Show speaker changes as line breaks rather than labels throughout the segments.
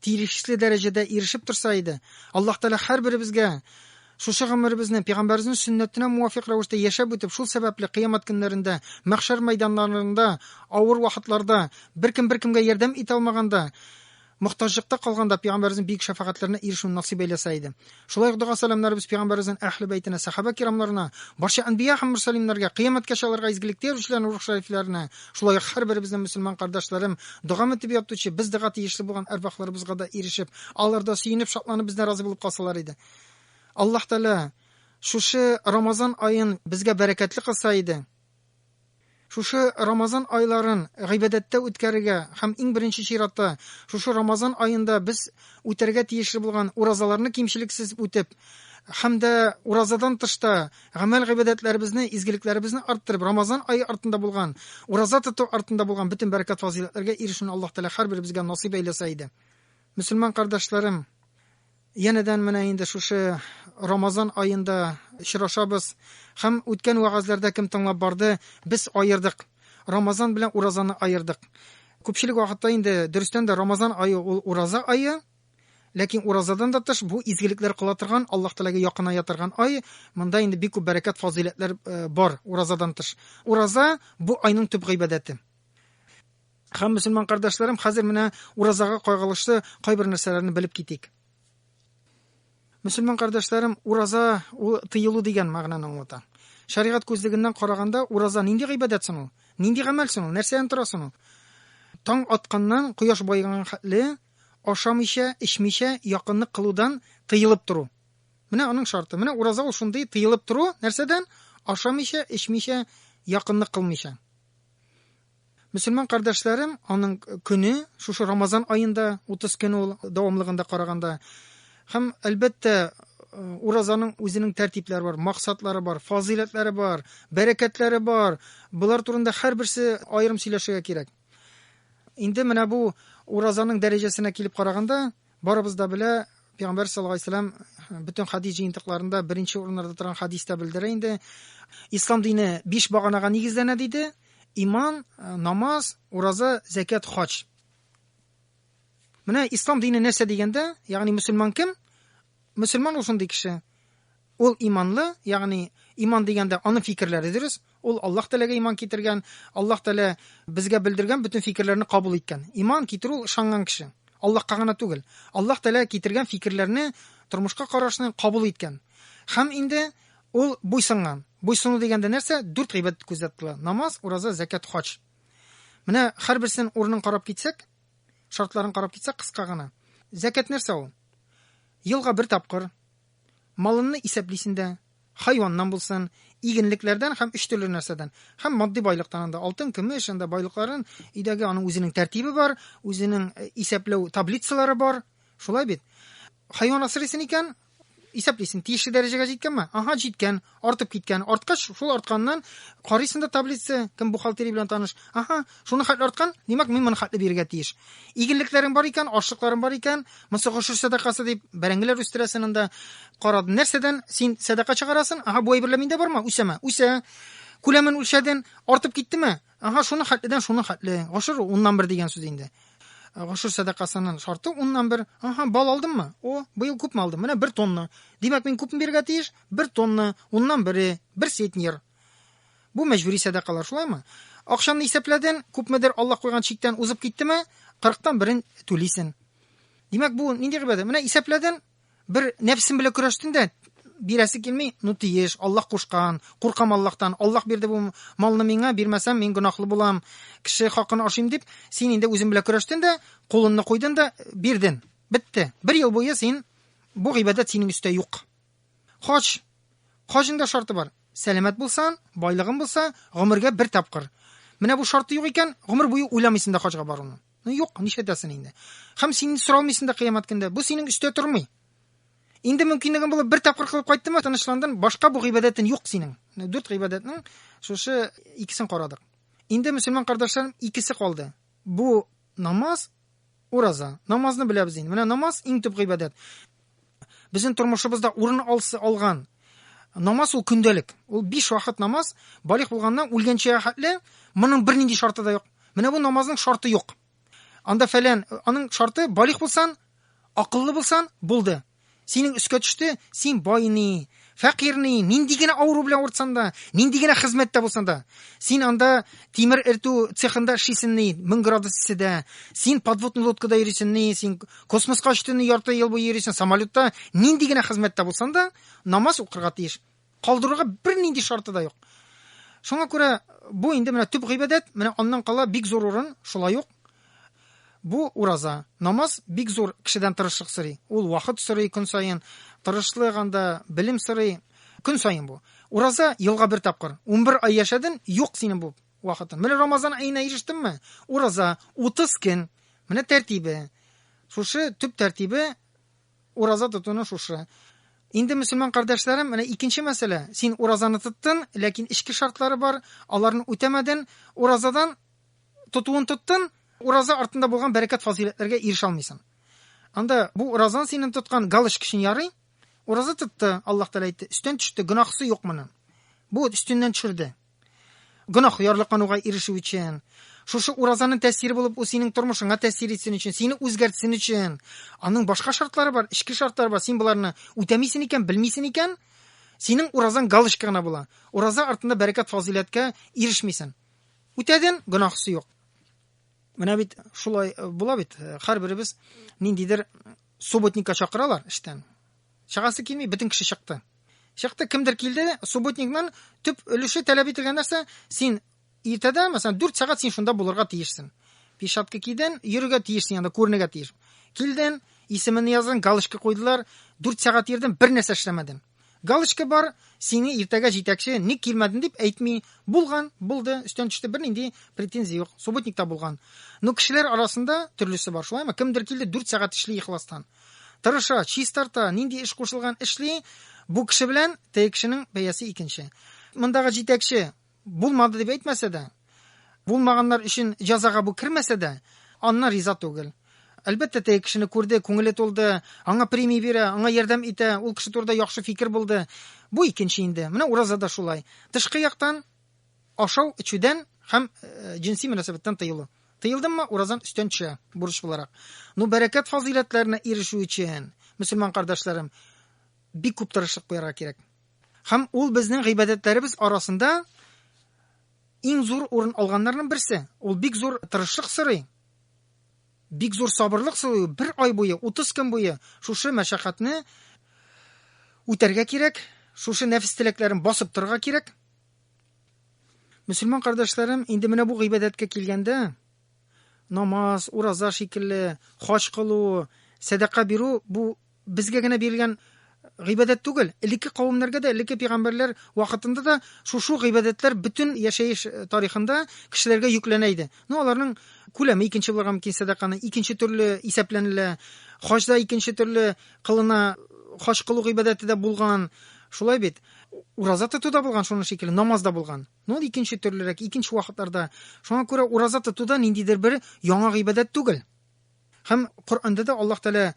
тиешле дәрәҗәдә ирешеп торса иде. Аллаһ Тәгалә һәрберебезгә шушы гомеребезне пәйгамбәребезнең сөннәтенә муафикъ рәвештә яшәп үтеп, шул сәбәпле кыямәт көннәрендә, мәхшәр мәйданнарында, авыр вакытларда, беркем беркемгә ярдәм итә алмаганда, мохтаҗлыкта калганда пәйгамбәребезнең бөек шәфәгатьләренә ирешүне насыйп әйләсә иде. Шулай ук дога-сәламнәребез пәйгамбәребезнең әһле бәйтенә, сәхабә кирамнарына, барча әнбия һәм мөрсәлимнәргә, кыямәткәчә аларга изгелектә йөрүчеләрнең рух шәрифләренә, шулай ук һәрберебезнең мөселман кардәшләрем, догамы дип ятучы, без дога тиешле булган әрвахларыбызга да ирешеп, алар да сөенеп, шатланып бездән разый булып калсалар иде. Аллаһ Тәгалә шушы Рамазан аен безгә бәрәкәтле кылса иде. Шушы Рамазан айларын гыйбадәттә үткәрергә һәм иң беренче чиратта шушы Рамазан аенда без үтәргә тиешле булган уразаларны кимчелексез үтеп һәм дә уразадан тыш та гамәл-гыйбадәтләребезне, изгелекләребезне арттырып, Рамазан ае артында булган, ураза тоту артында булган бөтен бәрәкәт-фазыйләтләргә ирешүне Аллаһ Тәгалә һәрберебезгә насыйп әйләсә иде. Мөселман кардәшләрем! Янәдән менә инде шушы Рамазан аенда очрашабыз һәм үткән вәгазьләрдә кем тыңлап барды, без аердык. Рамазан белән уразаны аердык. Күпчелек вакытта инде дөрестән дә Рамазан ае ул ураза ае, ләкин уразадан да тыш бу изгелекләр кыла торган, Аллаһ Тәгаләгә якыная торган ай. Монда инде бик күп бәрәкәт, фазыйләтләр э, бар уразадан тыш. Ураза бу айның төп гыйбадәте. Һәм, мөселман кардәшләрем, хәзер менә уразага кайгылышлы кайбер нәрсәләрне белеп китик. Мөселман кардәшләрем, ураза ул тыелу дигән мәгънәне аңлата. Шәригать күзлегеннән караганда, ураза нинди гыйбадәт соң ул? Нинди гамәл соң ул? Нәрсәдән тора соң ул? Таң атканнан кояш баеганга хәтле ашамыйча, эчмичә якынлык кылудан тыелып тору. Менә аның шарты. Менә ураза ул шундый тыелып тору, нәрсәдән? Ашамыйча, эчмичә, якынлык кылмыйча. Мөселман кардәшләрем аның көне, шушы Рамазан аенда, 30 көн ул дәвамлыгында караганда. Һәм, әлбәттә, уразаның үзенең тәртипләре бар, максатлары бар, фазыйләтләре бар, бәрәкәтләре бар. Болар турында һәрберсе аерым сөйләшергә кирәк. Инде менә бу уразаның дәрәҗәсенә килеп караганда, Барыбыз да белә, Пәйгамбәр саллаллаһу алейһи вәсәлләм бөтен хадис җыентыкларында беренче урыннарда торган хадистә белдерә инде. Ислам дине биш баганага нигезләнә диде. Иман, э, намаз, ураза, зәкят, хаҗ. Менә ислам дине нәрсә дигәндә, ягъни мөселман кем? Мөселман ул шундый кеше. Ул иманлы, ягъни, иман дигәндә, аның фикерләре дөрес, ул Аллаһ Тәгаләгә иман китергән, Аллаһ Тәгалә безгә белдергән бөтен фикерләрне кабул иткән. Иман китерү ул ышанган кеше. Аллаһка гына түгел. Аллаһ Тәгалә китергән фикерләрне, тормышка карашны кабул иткән. Һәм инде ул буйсынган. Буйсыну дигәндә нәрсә? Дүрт гыйбадәт күздә тотыла. Намаз, ураза, зәкят, хаҗ. Менә һәрберсен урынын карап китсәк, шартларын карап китсәк, кыска гына. Зәкят нәрсә ул? Елга бер тапкыр, Малынны исәплисен дә, хайваннан булсын, игенлекләрдән һәм өч төрле нәрсәдән, һәм матди байлыктан анда, алтын, көмеш, анда байлыкларын, өйдәге аның үзенең тәртибе бар, үзенең э, исәпләү таблицалары бар, шулай бит? Хайван асрыйсын икән, исәплисен, тиешле дәрәҗәгә җиткәнме? Ага, җиткән, артып киткән. Арткач, шул артканнан карыйсың да таблица, кем бухгалтерия белән таныш. Аха, шуны хәтле арткан, димәк, мин моны хәтле бирергә тиеш. Игенлекләрең бар икән, ашлыкларың бар икән, мосы гошер сәдакасы дип бәрәңгеләр үстерәсен анда. Карады, нәрсәдән син сәдака чыгарасын? Аха, бу әйберләр миндә бармы? Үсәме? Үсә. Күләмен үлчәден, артып киттеме? Аха, шуны хәтледән шуны хәтле. Гошер уннан бер дигән сүз инде. Гошер сәдакасының шарты уннан бер. Аха, бал алдыммы? О, быел күпме алдым? Менә бер тонна. Димәк, мин күпме бирергә тиеш? Бер тонна, уннан бере, бер сетнер. Бу мәҗбүри сәдакалар, шулаймы? Акчаны исәпләден, күпмедер Аллаһ куйган чиктән узып киттеме, 40-тан берен түлисен. Димәк, бу нинди гыйбадәт? Менә исәпләден, бер нәфсем белән көрәштен дә, бирәсе килми, ну тиеш, Аллаһ кушкан, куркам Аллаһтан, Аллаһ бирде бу малны миңа, бирмәсәм мин гөнаһлы булам, кеше хакын ашыйм дип, син инде үзең белән көрәштен дә, кулыңны куйдың да, бирдең. Бетте. Бер ел буе син бу гыйбадәт синең өстә юк. Хаҗ. Хаҗның да шарты бар. Сәламәт булсан, байлыгың булса, гомергә бер тапкыр. Менә бу шарты юк икән, гомер буе уйламыйсың да хаҗга баруны. Ну юк, нишләтәсен инде. Хәм син соралмыйсың да кыямәт көндә. Бу синең өстә тормый. Инде мөмкинлегең булып бер тапкыр кылып кайттымы, тынычландың, башка бу гыйбадәтен юк синең. Дүрт гыйбадәтнең шушы икесен карадык. Инде мөселман кардәшләрем икесе калды. Бу намаз, ураза. Намазны беләбез инде. Менә намаз иң төп гыйбадәт. Безнең тормышыбызда урын алсы алган намаз ул көндәлек. Ул биш вакыт намаз, балих булганнан үлгәнчә хәтле, моның бернинди шарты да юк. Менә бу намазның шарты юк. Анда фәлән, аның шарты балих булсан, акыллы булсан, булды. Синең өскә төште, син байны, Фәкыйрьне нинди генә авыру белән авыртсаң да, нинди генә хезмәттә булсаң да, син анда тимер эртү цехында эшлисең ни, 1000 градус исседә, син подводный лодкада йөрисең ни, син космоска очтың ни, ярты ел буе йөрисең самолетта, нинди генә хезмәттә булсаң да, намаз укырга тиеш. Калдырырга бернинди шарты да юк. Шуңа күрә бу инде менә төп гыйбадәт, менә аннан кала бик зур урын, шулай ук Бу, ураза. Намаз бик зур кешедән тырышлык сорый. Ул вакыт сорый көн саен, тырышлык анда, белем сорый. Көн саен бу. Ураза елга бер тапкыр. Унбер ай яшәден, юк синең бу вакытың. Менә Рамазан аена ирештеңме? Ураза, утыз көн. Менә тәртибе. Шушы төп тәртибе ураза тотуның шушы. Инде мөселман кардәшләрем, менә икенче мәсьәлә. Син уразаны тоттын, ләкин эчке шартлары бар, аларны үтәмәден. Уразадан Тотуын тоттын, ураза артында булган бәрәкәт-фазыйләтләргә ирешә алмыйсың. Анда бу уразан синен тоткан галочка өчен ярый. Ураза тотты, Аллаһ Тәгалә әйтте, өстән төште, гөнаһысы юк моның. Бу өстеннән төшерде. Гөнаһ ярлыкануга ирешү өчен, шушы уразаның тәэсире булып ул синең тормышыңа тәэсир итсен өчен, сине үзгәртсен өчен. Аның башка шартлары бар, эчке шартлары бар. Син боларны үтәмисен икән, белмисен икән, синең уразаң галочка гына була. Ураза артында бәрәкәт-фазыйләткә ирешмисен. Үтәден, гөнаһысы юк. Менә бит шулай э, була бит. Э, һәрберебез ниндидер субботникка чакыралар эштән. Чагасы килми, бөтен кеше чыкты. Чыкты, кемдер килде, субботникның төп өлеше таләп ителгән нәрсә, син иртәдә, мәсәлән, 4 сәгать син шунда булырга тиешсең. Пишапка кидән, йөрергә тиешсең, анда күренергә тиеш. Килден, исемен яздың, галочка куйдылар, 4 сәгать йөрдең, бер нәрсә эшләмәдең. Галочка бар, сине иртәгә җитәкче ник килмәдең дип әйтми. Булган, булды, өстән төште, бернинди претензия юк. Субботникта булган. Ну, кешеләр арасында төрлесе бар, шулаймы? Кемдер килде, дүрт сәгать эшли ихластан. Тырыша, чистарта, нинди эш кушылган, эшли. Бу кеше белән теге кешенең бәясе икенче. Мондагы җитәкче Булмады дип әйтмәсә дә, булмаганнар өчен җазага бу кермәсә дә, аннан риза түгел. Әлбәттә, теге кешене күрде, күңеле тулды, аңа премия бирә, аңа ярдәм итә, ул кеше турында яхшы фикер булды. Бу икенче инде. Менә ураза да шулай. Тышкы яктан ашау, эчүдән һәм э, җенси мөнәсәбәттән тыелу. Тыелдыммы, уразан өстән төшә бурыч буларак. Ну, бәрәкәт фазыйләтләренә ирешү өчен, мөселман кардәшләрем, бик күп тырышлык куярга кирәк. Һәм ул безнең гыйбадәтләребез арасында иң зур урын алганнарның берсе. Ул бик зур тырышлык сорый, бик зур сабырлык сорый. Бер ай буе, 30 көн буе шушы мәшәкатьне үтәргә кирәк, шушы нәфес теләкләрен басып торырга кирәк. Мөселман кардәшләрем, инде менә бу гыйбадәткә килгәндә, Намаз, ураза шикелле, хаҗ кылу, сәдака бирү бу безгә генә бирелгән гыйбадәт түгел, элекке кавемнәргә дә, элекке пигамбәрләр вакытында да шушы гыйбадәтләр бөтен яшәеш э, тарихында кешеләргә йөкләнә иде. Ну, аларның күләме икенче булырга мөмкин сәдаканы, икенче төрле исәпләнелә. Хаҗда икенче төрле кылына, хаҗ кылу гыйбадәте дә булган. Шулай бит. Ураза тоту да булган шуның шикелле, намаз да булган. Ну, ул икенче төрлерәк, икенче вакытларда. Шуңа күрә ураза тоту да ниндидер бер яңа гыйбадәт түгел. Һәм Коръәндә дә Аллаһ Тәгалә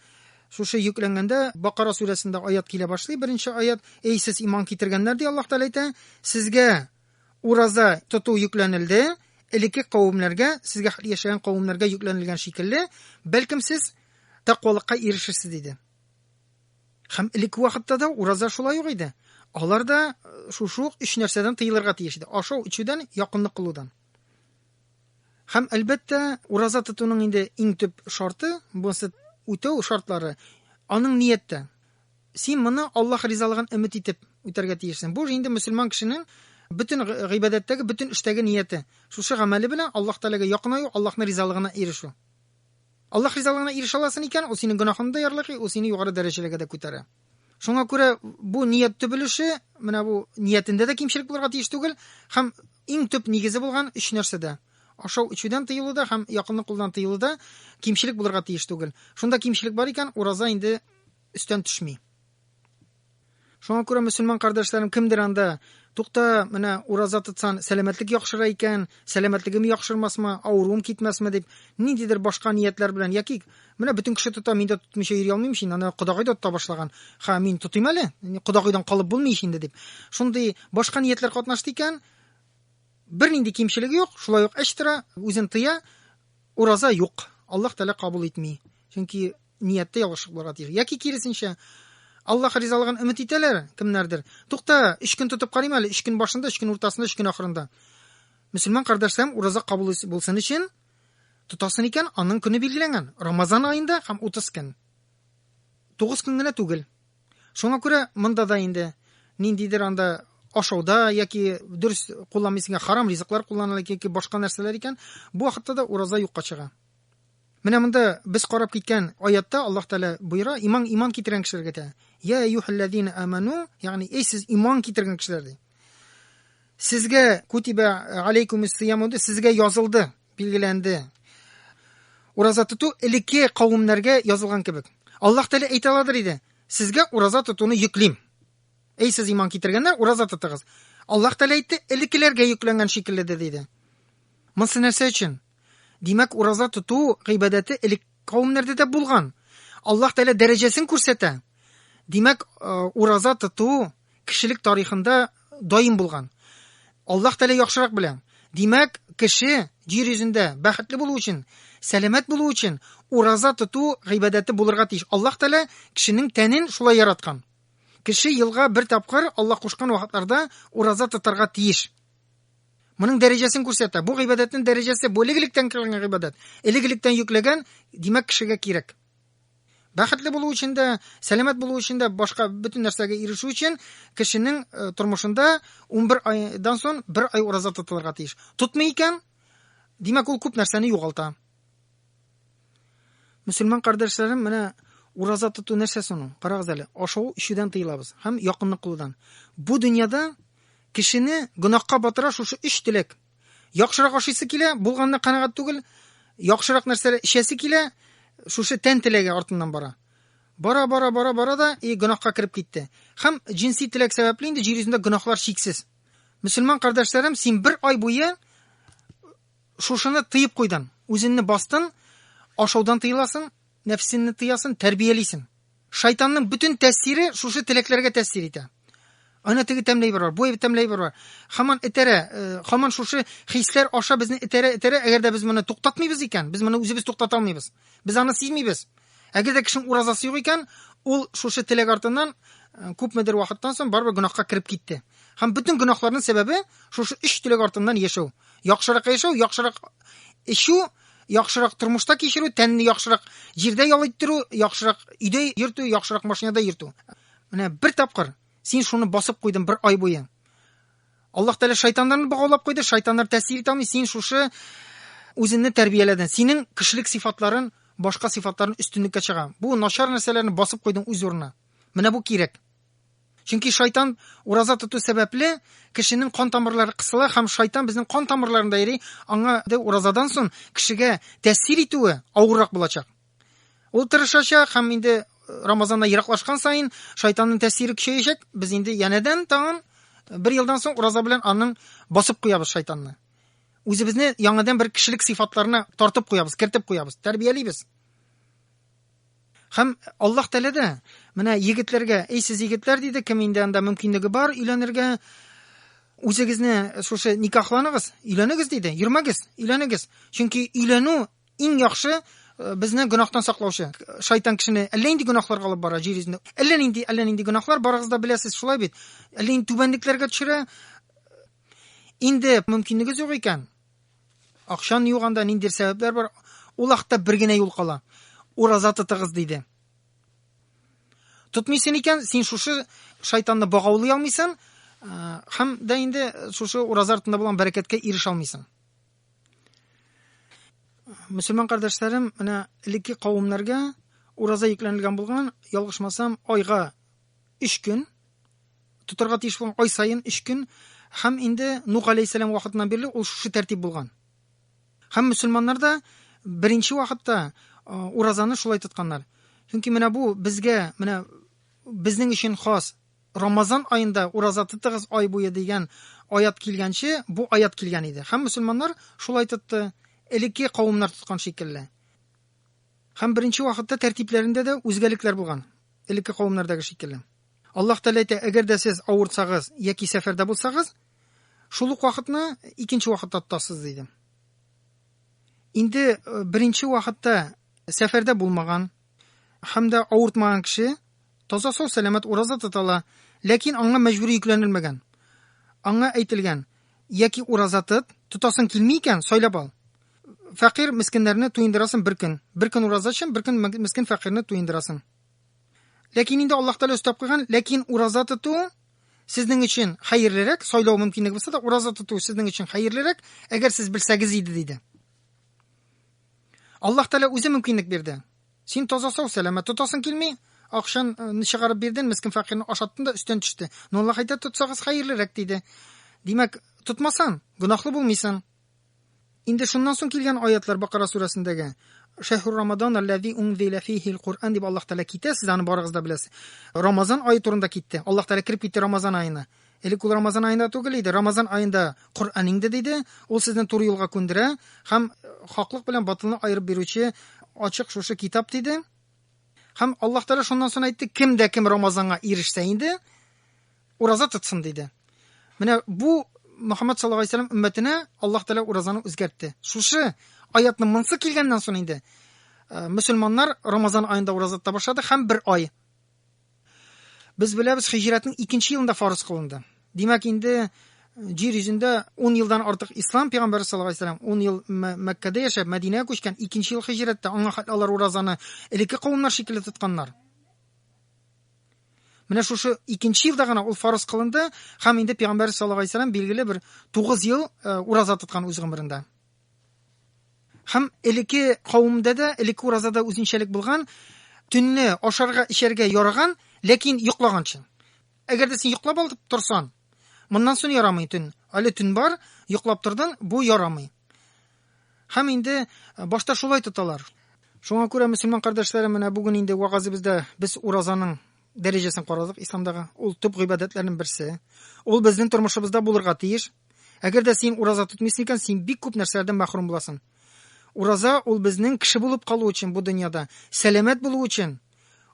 шушы йөкләнгәндә Бакара сүрәсендә аят килә башлый, беренче аят, "Эй сез иман китергәннәр", ди Аллаһ Тәгалә әйтә, "Сезгә ураза тоту йөкләнелде, элекке кавемнәргә, сезгә яшәгән кавемнәргә йөкләнелгән шикелле, бәлкем сез тәкъвалыкка ирешерсез", диде. Хәм элекке вакытта да ураза шулай ук иде. Алар да э, шушы ук өч нәрсәдән тыелырга тиеш иде. Ашау, ичүдән, якынлык кылудан. Хәм әлбәттә, ураза тотуның инде иң төп шарты, бунсы үтәү шартлары, аның нияттә. Син моны Аллаһ ризалыгын өмет итеп үтәргә тиешсең. Бу инде мөселман кешенең бөтен гыйбадәттәге, бөтен эштәге нияте. Шушы гамәле белән Аллаһ Тәгаләгә якынаю, Аллаһның ризалыгына ирешү. Аллаһ ризалыгына ирешә аласың икән, ул синең гөнаһыңны да ярлыгый, ул сине югары дәрәҗәләргә дә күтәрә. Шуңа күрә бу ният төп өлеше, менә бу ниятендә дә кимчелек булырга тиеш түгел һәм иң төп нигезе булган өч нәрсәдә ашау эчүдән тыелуда һәм якынны кулдан тыелуда кимчелек булырга тиеш түгел. Шунда кимчелек бар икән, ураза инде өстән төшми. Шуңа күрә, мөселман кардәшләрем, кемдер анда, тукта, менә ураза тотсан, сәламәтлек яхшыра икән, сәламәтлегем яхшырмасмы, авыруым китмәсме дип, ниндидер башка ниятләр белән, яки менә бөтен кеше тота, мин дә тотмыйча йөри алмыйм шин, аны кодагый да тота башлаган, ха, мин тотыйм әле, кодагыйдан калып булмый ич инде дип. Шундый башка ниятләр катнашты икән, Бернинди кимчелеге юк, шулай ук эч тора, үзен тыя, ураза юк. Аллаһ Тәгалә кабул итми. Чөнки нияттә ялгышлык булырга тиеш. Яки киресенчә, Аллаһ ризалыгын өмет итәләр кемнәрдер. Тукта, өч көн тотып карыйм әле, өч көн башында, өч көн уртасында, өч көн ахырында. Мөселман кардәшләрем ураза кабул булсын өчен тотасын икән, аның көне билгеләнгән. Рамазан аенда һәм 30 көн. 9 көн генә түгел. Шуңа күрә монда да инде ниндидер анда ашауда яки дөрес кулланмыйсыңга харам ризыклар кулланыла яки башка нәрсәләр икән, бу вакытта да ураза юкка чыга. Менә монда без карап киткән аятта Аллаһ Тәгалә боера иман иман китергән кешеләргә дә. Я юхаллазина аману, ягъни эй сез иман китергән кешеләр ди. Сезгә кутибә алейкумис сиямуды, сезгә язылды. Билгеләнде. Ураза тоту элекке кавымнарга язылган кебек. Аллаһ Тәгалә әйтә аладыр иде. Сезгә ураза тотуны йөклим. Әй сез иман китергәннәр, ураза тотыгыз. Аллаһ Тәгалә әйтте, элеккеләргә йөкләнгән шикелле дә диде. Монсы нәрсә өчен? Димәк, ураза тоту гыйбадәте элек кавымнарда да булган. Аллаһ Тәгалә дәрәҗәсен күрсәтә. Димәк, э, ураза тоту кешелек тарихында даим булган. Аллаһ Тәгалә яхшырак белә. Димәк, кеше җир йөзендә бәхетле булу өчен, сәламәт булу өчен ураза тоту гыйбадәте булырга тиеш. Аллаһ Тәгалә кешенең тәнен шулай яраткан. Кеше елга бер тапкыр Аллаһ кушкан вакытларда ураза тотарга тиеш. Моның дәрәҗәсен күрсәтә. Бу гыйбадәтнең дәрәҗәсе бу элек-электән килгән гыйбадәт. Элек-электән йөкләгән, димәк, кешегә кирәк. Бәхетле булу өчен дә, сәламәт булу өчен дә, башка бөтен нәрсәгә ирешү өчен кешенең э, тормышында 11 айдан соң бер ай ураза тотылырга тиеш. Тотмый икән, димәк ул күп нәрсәне югалта. Мөселман кардәшләрем, менә ураза тоту нәрсә соң? Карагыз әле, ашау ишүдән тыелабыз һәм якынны кылудан. Бу дөньяда кешене гөнаһка батыра шушы өч теләк. Яхшырак ашыйсы килә, булганына канәгать түгел, яхшырак нәрсәләр эчәсе килә, шушы тән теләге артыннан бара. Бара, бара, бара, бара да и гөнаһка кереп китте. Һәм җинси теләк сәбәпле инде җир йөзендә гөнаһлар чиксез. Мөселман кардәшләрем, син бер ай буе шушыны тыеп куйдың, үзеңне бастың, ашаудан тыеласың, Нәфсеңне тыясың, тәрбиялисең. Шайтанның бөтен тәэсире шушы теләкләргә тәэсир итә. Ана теге тәмле әйбер бар, бу әйбер тәмле әйбер бар. Хаман этәрә, э, хаман шушы хисләр аша безне этәрә, этәрә, әгәр дә без моны туктатмыйбыз икән, без моны үзебез туктата алмыйбыз. Без аны сизмибез. Әгәр дә кешенең уразасы юк икән, ул шушы теләк артыннан э, күпмедер вакыттан соң барыбер гөнаһка кереп китте. Һәм бөтен гөнаһларның сәбәбе шушы өч теләк артыннан яшәү. Яхшырак яшәү, яхшырак эчү, яхшырак тормышта кичерү, тәнне яхшырак җирдә ял иттерү, яхшырак өйдә йөртү, яхшырак машинада йөртү. Менә бер тапкыр син шуны басып куйдың бер ай буе. Аллаһ Тәгалә шайтаннарны богаулап куйды, шайтаннар тәэсир итә син шушы үзеңне тәрбияләдең. Синең кешелек сыйфатларын, башка сыйфатларын өстенлеккә чыга. Бу начар нәрсәләрне басып куйдың үз урынына. Менә бу кирәк. Чөнки шайтан ураза тоту сәбәпле кешенең кан тамырлары кысыла һәм шайтан безнең кан тамырларында йөри, аңа уразадан соң кешегә тәэсир итүе авыррак булачак. Ул тырышачак һәм инде э, Рамазаннан ераклашкан саен шайтанның тәэсире көчәячәк. Без инде янәдән тагын э, бер елдан соң ураза белән аның басып куябыз шайтанны. Үзебезне яңадан бер кешелек сыйфатларына тартып куябыз, кертеп куябыз, тәрбиялибез. Һәм Аллаһ Тәгалә дә менә егетләргә, "Эй сез егетләр" диде, кем инде анда мөмкинлеге бар өйләнергә, үзегезне шушы никахланыгыз, өйләнегез диде. Йөрмәгез, өйләнегез. Чөнки өйләнү иң яхшы э, безне гөнаһтан саклаучы. Шайтан кешене әллә нинди гөнаһларга алып бара җир йөзендә. Әллә нинди, әллә нинди гөнаһлар барыгыз да беләсез, шулай бит. Әллә нинди түбәнлекләргә төшерә. Инде мөмкинлегегез юк икән, Акчаны юганда ниндидер сәбәпләр бар, ул хакта бер генә юл кала. Ураза тотыгыз диде. Тотмыйсын икән, син шушы шайтанны багаулый алмыйсың, һәм дә инде шушы ураза артында булган бәрәкәткә ирешә алмыйсың. Мөселман кардәшләрем, менә элекке кавымнарга ураза йөкләнелгән булган, ялгышмасам, айга 3 көн тотарга тиеш булган ай саен өч көн һәм инде Нух алейхиссәлам вакытыннан бирле ул шушы тәртип булган. Һәм мөселманнар да беренче вакытта уразаны шулай тотканнар. Чөнки менә бу безгә, менә безнең өчен хас Рамазан аенда ураза тотыгыз ай буе дигән аят килгәнче бу аят килгән иде. Һәм мөселманнар шулай тотты, элекке кавымнар тоткан шикелле. Һәм беренче вакытта тәртипләрендә дә үзгәлекләр булган, элекке кавымнардагы шикелле. Аллаһ Тәгалә әйтә, әгәр дә сез авырсагыз яки сәфәрдә булсагыз, шул ук вакытны икенче вакытта тотасыз, диде. Инде э, беренче вакытта сәфәрдә булмаган һәм дә авыртмаган кеше таза сау сәламәт ураза тота ала, ләкин аңа мәҗбүри йөкләнелмәгән. Аңа әйтелгән, яки ураза тот, тотасың килми икән, сайлап ал. Фәкыйрь мескеннәрне туендырасың бер көн. Бер көн ураза өчен, бер көн мескен фәкыйрьне туендырасың. Ләкин инде Аллаһ Тәгалә өстәп куйган, ләкин ураза тоту сезнең өчен хәерлерәк, сайлау мөмкинлеге булса да, ураза тоту сезнең өчен хәерлерәк, әгәр сез белсәгез иде диде. Аллаһ Тәгалә үзе мөмкинлек бирде. Син таза сау сәләмә тотасың килми, акчан э, чыгарып бирден, мискин фәкыйрне ашаттың да өстен төште. Но Аллаһ әйтә, тотсагыз хәерлерәк диде. Димәк, тотмасан, гөнаһлы булмыйсың. Инде шуннан соң килгән аятлар Бакара сүрәсендәге Шәһру Рамадан аллази унзилә фихил Куръан дип Аллаһ Тәгалә китә, сез аны барыгыз да беләсез. Рамазан ае турында китте. Аллаһ Тәгалә кереп китте Рамазан аена. Элек ул Рамазан аенда түгел иде. Рамазан аенда Коръән иңде диде. Ул сезне туры юлга күндерә һәм хаклык белән батылны аерып бирүче ачык шушы китап диде. Һәм Аллаһ Тәгалә шуннан соң әйтте, кем дә кем Рамазанга ирешсә инде, Ураза тотсын, диде. Менә бу Мөхәммәд саллаллаһу алейһи вәсәлләм өммәтенә Аллаһ Тәгалә уразаны үзгәртте. Шушы аятны монсы килгәннән соң инде э, мөселманнар Рамазан аенда ураза тота башлады һәм бер ай. Без беләбез, хиҗрәтнең икенче елында фарыз кылынды. Димәк, инде э, җир йөзендә 10 елдан артык ислам пәйгамбәре саллаллаһу алейһи вәсәлләм 10 ел Мәккәдә яшәп, Мәдинәгә күчкән, икенче ел хиҗрәттә аңа хәтле алар уразаны элекке кавымнар шикелле тотканнар. Менә шушы икенче елда гына ул фарыз кылынды һәм инде пәйгамбәр саллаллаһу алейһи вәсәләм билгеле бер 9 ел э, ураза тоткан үз гомерендә. Һәм элекке кавымда да, элекке уразада үзенчәлек булган, төнне ашарга, эчәргә яраган, ләкин йоклаганчы. Әгәр дә син йоклап алып торсан, Моннан сон ярамый төн. Әле төн бар, йоклап тордын, бу ярамый. Һәм инде башта шулай тоталар. Шуңа күрә мөселман кардәшләрем менә бүген инде вагазыбызда без уразаның дәрәҗәсен карадык исламдагы. Ул төп гыйбадәтләрнең берсе. Ул безнең тормышыбызда булырга тиеш. Әгәр дә син ураза тотмыйсың икән, син бик күп нәрсәләрдән мәхрүм буласың. Ураза ул безнең кеше булып калу өчен бу дөньяда, сәламәт булу өчен.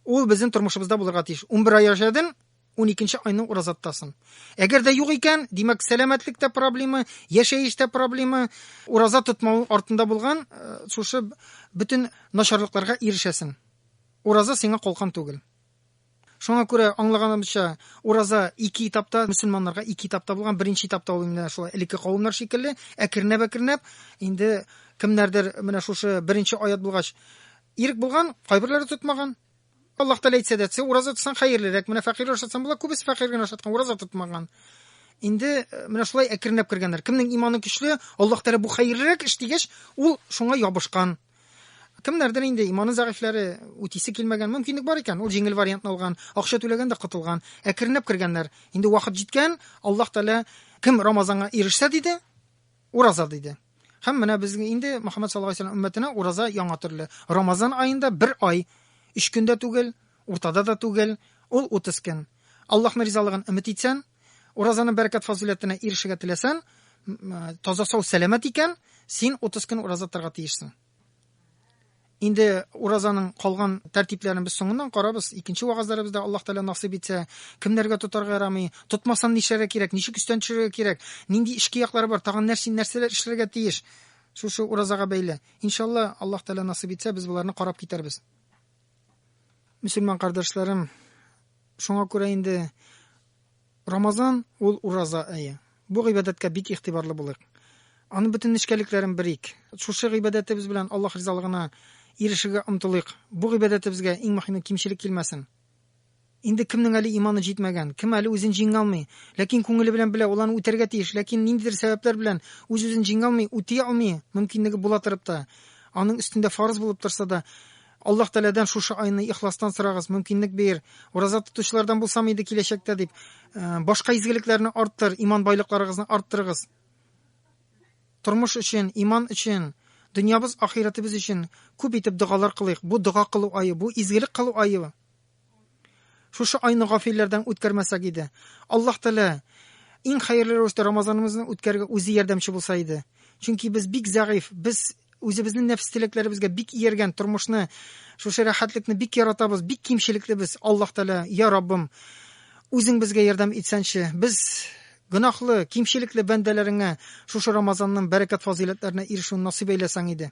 Ул безнең тормышыбызда булырга тиеш. 11 ай яшәдең, 12 айны ураза тотасың. Әгәр дә юк икән, димәк, сәламәтлектә проблема, яшәештә проблема, ураза тотмау артында булган э, шушы бөтен начарлыкларга ирешәсең. Ураза сиңа калкан түгел. Шуңа күрә аңлаганымча, ураза ике этапта, мусульманнарга ике этапта булган. Беренче этапта ул инде шулай элекке кавымнар шикелле, әкренәп-әкренәп инде кемнәрдер менә шушы беренче аят булгач ирек булган, кайберләре тотмаган. Аллаһ Тәгалә әйтсә дә, тсе ураза тотсаң хәерлерәк, менә фәкыйрьгә ошатсаң була, күбесе фәкыйрь генә ошаткан, ураза тотмаган. Инде э, менә шулай әкренләп кергәннәр. Кемнең иманы көчле, Аллаһ Тәгалә бу хәерлерәк эш дигәч, ул шуңа ябышкан. Кемнәрдер инде иманы зәгыйфьләре, үтисе килмәгән, мөмкинлек бар икән, ул җиңел вариантны алган, акча түләгән дә котылган. Әкренләп кергәннәр. Инде вакыт җиткән, Аллаһ Тәгалә кем Рамазанга ирешсә диде, Ураза диде. Һәм менә без инде Мөхәммәд саллаллаһу алейһи уммәтенә ураза яңа төрле. Рамазан аенда бер ай, өч көн дә түгел, уртада да түгел, ул 30 көн. Аллаһның ризалыгын өмет итсән, уразаның бәрәкәт фазыйләтенә ирешергә теләсән, таза сау сәламәт икән, син 30 көн ураза торырга тиешсең. Инде уразаның калган тәртипләрен без соңыннан карабыз. Икенче вагазларыбызда Аллаһ Тәгалә насыйп итсә, кемнәргә тотарга ярамый, тотмасам нишләргә кирәк, ничек өстән төшерергә кирәк, нинди эчке яклары бар, тагын нәрсә нәрсәләр эшләргә тиеш. Шушы уразага бәйле. Иншалла, Аллаһ Тәгалә насыйп итсә, без боларны карап китәрбез. Мөселман кардәшләрем, шуңа күрә инде Рамазан, ул ураза ае. Бу гыйбадәткә бик игътибарлы булыйк. Аның бөтен нечкәлекләрен берик. Шушы гыйбадәтебез белән Аллаһ ризалыгына ирешергә омтылыйк. Бу гыйбадәтебезгә, иң мөһиме, кимчелек килмәсен. Инде кемнең әле иманы җитмәгән, кем әле үзен җиңә алмый, ләкин күңеле белән белә, ул аны үтәргә тиеш, ләкин ниндидер сәбәпләр белән үз-үзен җиңә алмый, үти алмый, мөмкинлеге була торып та, аның өстендә фарыз булып торса да, Аллаһ Тәгаләдән шушы айны ихластан сорагыз, мөмкинлек бир. Ураза тотучылардан булсам иде киләчәктә, дип, башка изгелекләрне арттыр, иман байлыкларыгызны арттырыгыз. Тормыш өчен, иман өчен, дөньябыз, ахирәтебез өчен күп итеп догалар кылыйк. Бу дога кылу ае, бу изгелек кылу ае. Шушы айны гафилләрдән үткәрмәсәк иде. Аллаһ Тәгалә иң хәерле рәвештә Рамазанымызны үткәрергә үзе ярдәмче булса иде. Чөнки без бик зәгыйфь, без үзебезнең нәфс теләкләребезгә бик ияргән тормышны, шушы рәхәтлекне бик яратабыз, бик кимчелекле без. Аллаһ Тәгалә, я Раббым, үзең безгә ярдәм итсәнче. Без гөнаһлы, кимчелекле бәндәләреңә шушы Рамазанның бәрәкәт-фазыйләтләренә ирешүне насыйп әйләсәң иде.